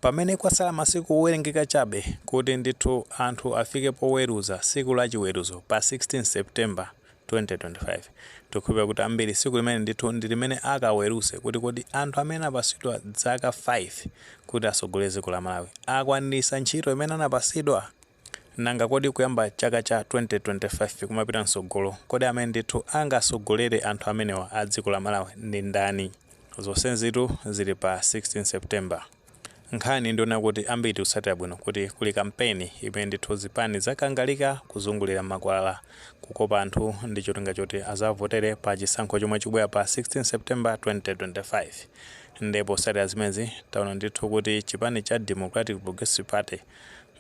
Pamene kwatsala masiku owerengeka chabe kuti ndithu anthu afike poweruza tsiku la chiweruzo pa 16 September, 2025, tikukhulupirira kuti ambiri tsiku limeneli ndithu ndi limene akaweruze kuti kodi anthu amene anapatsidwa zaka 5 kuti atsogolere dziko la Malawi akwaniritsa ntchito imene anapatsidwa? Nanga kodi kuyamba chaka cha 2025 kumapita mtsogolo, kodi amene ndithu angasogolere anthu amenewa a dziko la Malawi ndi ndani? Zonsenzitu zili pa 16 September. Nkhani ndi yonena kuti ambiri tikutsatira bwino kuti kuli kampeni imene ndithu zipani zakangalika kuzungulira mmakwalala kukopa anthu ndi cholinga choti azawavotere pa chisankho chomwe chikubwera pa 16 September 2025. Nde potsatira zimenezi taona ndithu kuti chipani cha Democratic Progressive Party,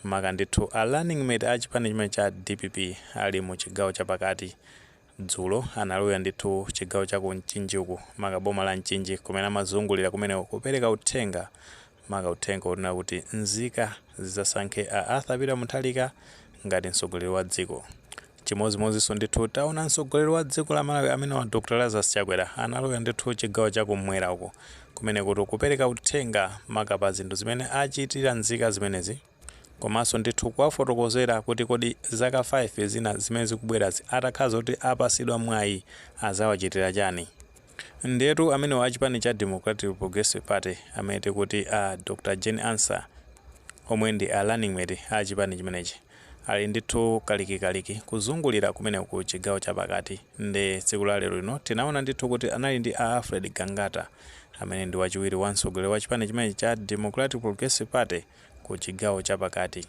Maka ndithu a running mate a chipani chimenechi cha dpp ali mu chigawo cha pakati. Dzulo analowera ndithu chigawo cha ku Mchinji uku maka boma la Mchinji kumene amazungulira kumeneko kupereka uthenga maka uthenga wonena kuti nzika zidzasankhe a Arthur Peter Mutharika ngati mtsogoleri wa dziko. Chimodzimodzinso ndithu taona mtsogoleri wa dziko la Malawi amenewa Dr Lazarus Chakwera analowera ndithu chigawo cha kummwera uku kumenekutu kupereka uthenga maka pa zinthu zimene achitira nzika zimenezi komanso ndithu kuwafotokozera kuti kodi zaka 5 zina zimene zikubwerazi atakhala zoti apasidwa mwayi azawachitira chani. Ndiyetu amenewo a chipani cha Democratic Progressive Party amene tikuti a Dr Jane Ansah omwe ndi a running mate a chipani chimenechi ali ndithu kalikikaliki kuzungulira kumene ku chigawo cha pakati nde tsiku la lero lino tinaona ndithu kuti anali ndi a Alfred Gangata amene ndi wachiwiri wa mtsogoleri wa chipani chimenechi cha Democratic Progressive Party ku chigawo cha pakati.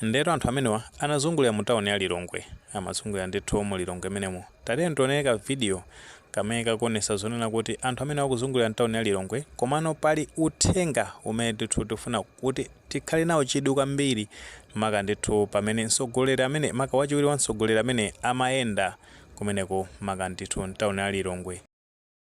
Ndiyetu anthu amenewa anazungulira mu town ya Lilongwe. Amazungulira ndithu mu Lilongwe menemo. Tatiyeni tionere ka video kamene kakuonesa zonena kuti anthu amenewa akuzungulira mtown ya Lilongwe komano pali uthenga umene ndithu tikufuna kuti tikhale nawo chidwi kwambiri maka ndithu pamene mtsogoleri amene maka wachiwiri wa mtsogoleri amene amayenda kumeneko maka ndithu mtown ya Lilongwe.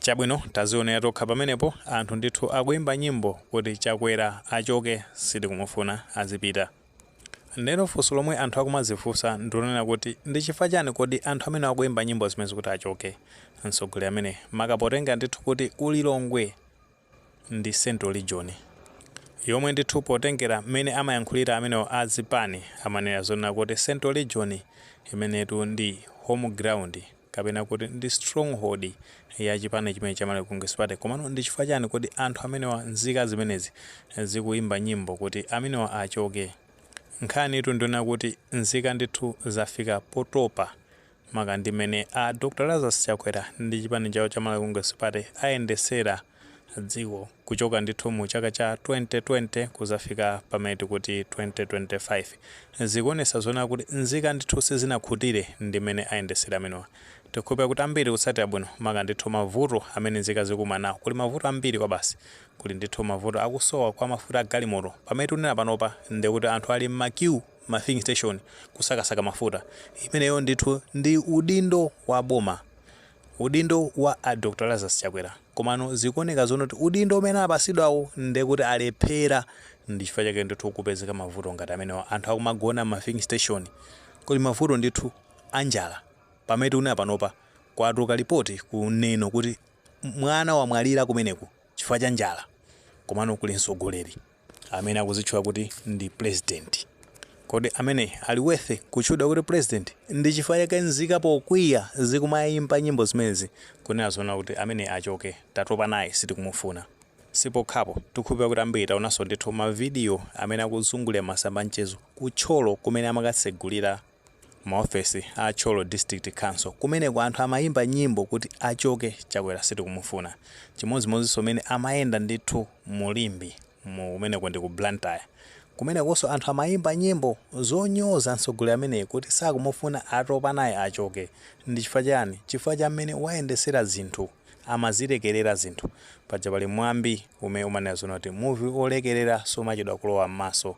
chabwino tazionera tokha pamenepo anthu ndithu akuimba nyimbo kuti chakwera achoke sitikumufuna azipita ndeno funso lomwe anthu akumazifunsa ndilonena kuti ndi chifukwa chani kodi anthu amenewa akuimba nyimbo zimenezi kuti achoke mtsogoleri amene maka potenga ndithu kuti ku Lilongwe ndi central region yomwe ndithu potengera mmene amayankhulira amenewa a zipani amanena zonena kuti central region imenetu ndi home ground kapena kuti ndi stronghold ya chipani chimene cha Malawi Congress Party komano ndi chifukwa chani kodi anthu amenewa nzika zimenezi zikuyimba nyimbo kuti amenewa achoke nkhanitu ndiyonena kuti nzika ndithu zafika potopa maka ndi mmene a Dr Lazarus Chakwera ndi chipani chawo cha Malawi Congress Party ayendesera dziko kuchoka ndithu mu chaka cha 2020 kuzafika pamene tikuti 2025 zikuonesa zonena kuti nzika ndithu sizinakhutire ndi mmene ayendesera amenewa tikukhulupira kuti ambiri tikutsatira bwino maka ndithu mavuto amene nzika zikukumana nawo kuli mavuto ambiri kwabasi kuli ndithu mavuto akusowa kwa mafuta a galimoto pamene tikunena panopa ndekuti anthu ali mma queue ma filling station kusakasaka mafuta imeneyo ndithu ndi udindo wa boma udindo wa a dr lazarus chakwera komano zikuoneka zonena kuti udindo umene anapasidwawo ndekuti alephera ndi chifukwa chake ndithu kupezeka mavuto ngati amenewo anthu akumagona ma filling station kuli mavuto ndithu anjala pamene tikunena panopa kwatuluka lipoti kunena kuti mwana wamwalira kumeneku chifukwa cha njala komano kuli mtsogoleri amene akuzitchula kuti ndi president kodi ameneyi ali worth kutchulidwa kuti president ndi chifukwa chake nzika pokwiya zikumayimba nyimbo zimenezi kunena zonena kuti ameneyi achoke tatopa naye sitikumufuna sipokhapo tikukhulupirira kuti ambiri taonanso ndithu mavidiyo amene akuzungulira m'masamba a mchezo ku thyolo kumene amakatsegulira Maofesi a Thyolo District Council kumeneko anthu amayimba nyimbo kuti achoke Chakwera sitikumufuna. Chimodzimodzinso mmene amayenda ndithu mu Limbe mu kumeneko ndi ku Blantyre. Kumenekonso anthu amayimba nyimbo zonyoza mtsogoleri ameneyu kuti sakumufuna atopa naye achoke. Ndi chifukwa chiyani? Chifukwa cha mmene wayendetsera zinthu. Amazilekerera zinthu. Paja pali mwambi umene umanena zonena kuti muvi wolekerera sumachedwa kulowa m'maso.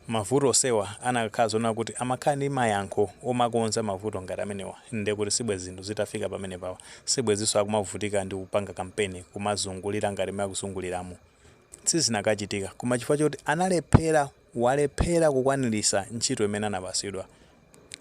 Mavuto osewa anakakhala zonena kuti amakhala ndi mayankho omakonza mavuto ngati amenewa nde kuti sibwezi zinthu zitafika pamenepawa sibwezinso akumavutika ndi kupanga kampeni kumazungulira ngati mmene akuzunguliramu sizinakachitika koma chifukwa choti analephera walephera kukwanilisa ntchito imene anapasidwa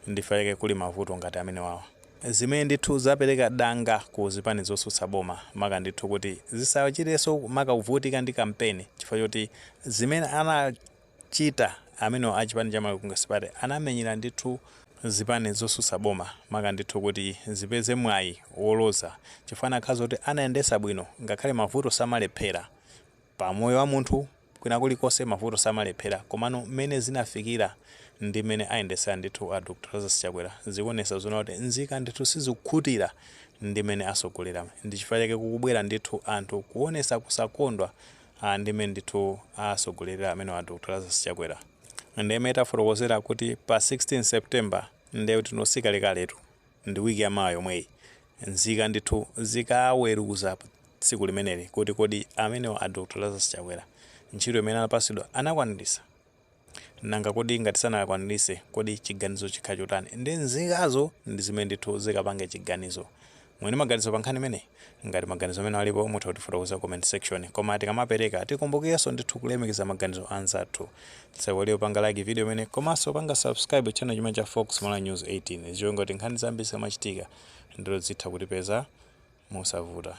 Ndi chifukwa chake kuli mavuto ngati amenewawa. Zimene ndithu zapereka danga ku zipani zotsutsa boma maka ndithu kuti zisachitenso maka kuvutika ndi kampeni chifukwa choti zimene anachita amenewa a chipani cha Malawi Congress Party anamenyera ndithu zipani zotsutsa boma maka ndithu kuti zipeze mwayi woloza chifukwa anakakhala zoti anayendetsa bwino ngakhale mavuto samalephera pa moyo wa munthu Kwina kulikonse mavuto samalephera komano mmene zinafikira ndi mmene ayendetsera ndithu a Dr Lazarus Chakwera zikuonetsa zoona kuti nzika ndithu sizikukhutira ndi mmene atsogolera ndi chifukwa chake kukubwera ndithu anthu kuonetsa kusakondwa ndi mmene ndithu atsogolerera amenewa a Dr Lazarus Chakwera ndi mmene tafotokozera kuti pa 16 September ndiye kuti si kalekaletu. ndi week ya mawa yomweyi nzika ndithu zikaweluza tsiku limeneli kuti kodi amenewa a Dr Lazarus Chakwera ntchito imene anapasidwa anakwanilisa? nanga kodi ngati sanakwanilise kodi chiganizo chikhala chotani nde nzikazo ndi zimene ndithu zikapange chiganizo. muli ndi maganizo pa nkhani imeneyi? Ngati maganizo amene alipo mutha kutifotokozera ku comment section. Koma tikamapereka tikumbukirenso ndithu kulemekeza maganizo anzathu. Tisaiwale kupanga like video imeneyi komanso kupanga subscribe channel chimene cha Fox Malawi News 18. Izi cholinga kuti nkhani zambiri zikamachitika ndithu zitha kutipeza mosavuta.